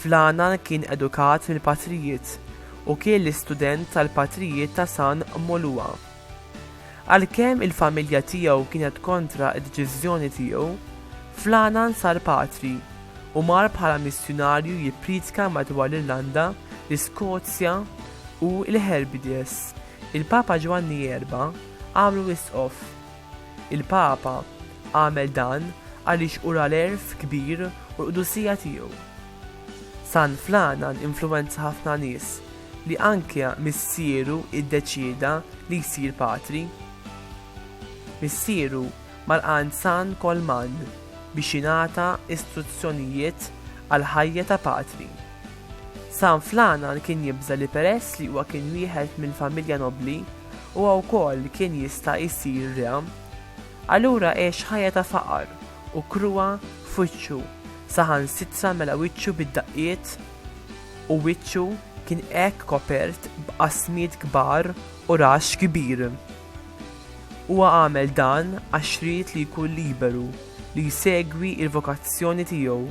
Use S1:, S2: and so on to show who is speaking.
S1: Fl-Għana kien edukat mill-Patrijiet u kien l-istudent tal-Patrijiet ta' San Molua. Għalkemm il-familja tiegħu kienet kontra d-deċiżjoni tiegħu, fl-Għana nsar patri u mar bħala missjunarju jippriedka madwar l-Irlanda, l-Iskozja u l-Hebrides. Il-Papa Ġwanni Erba' għamlu isqof. Il-Papa għamel dan għaliex ura l-għerf kbir u l-qdusija tiegħu. San Flanan influwenza ħafna nies li anke missieru iddeċieda li jsir patri. Missieru malqan San Kolman biex jingħata istruzzjonijiet għall-ħajja ta' patri. San Flanan kien jibża' li peress li huwa kien wieħed minn familja nobbli, huwa wkoll kien jista' jsir re. Allura għex ħajja ta' faqar u kruha f'wiċċu, saħansitra mela wiċċu bid-daqqiet u wiċċu kien hekk kopert b'qasmiet kbar u raxx kbir. Huwa għamel dan għax ried li jkun liberu li jsegwi l-vokazzjoni tiegħu.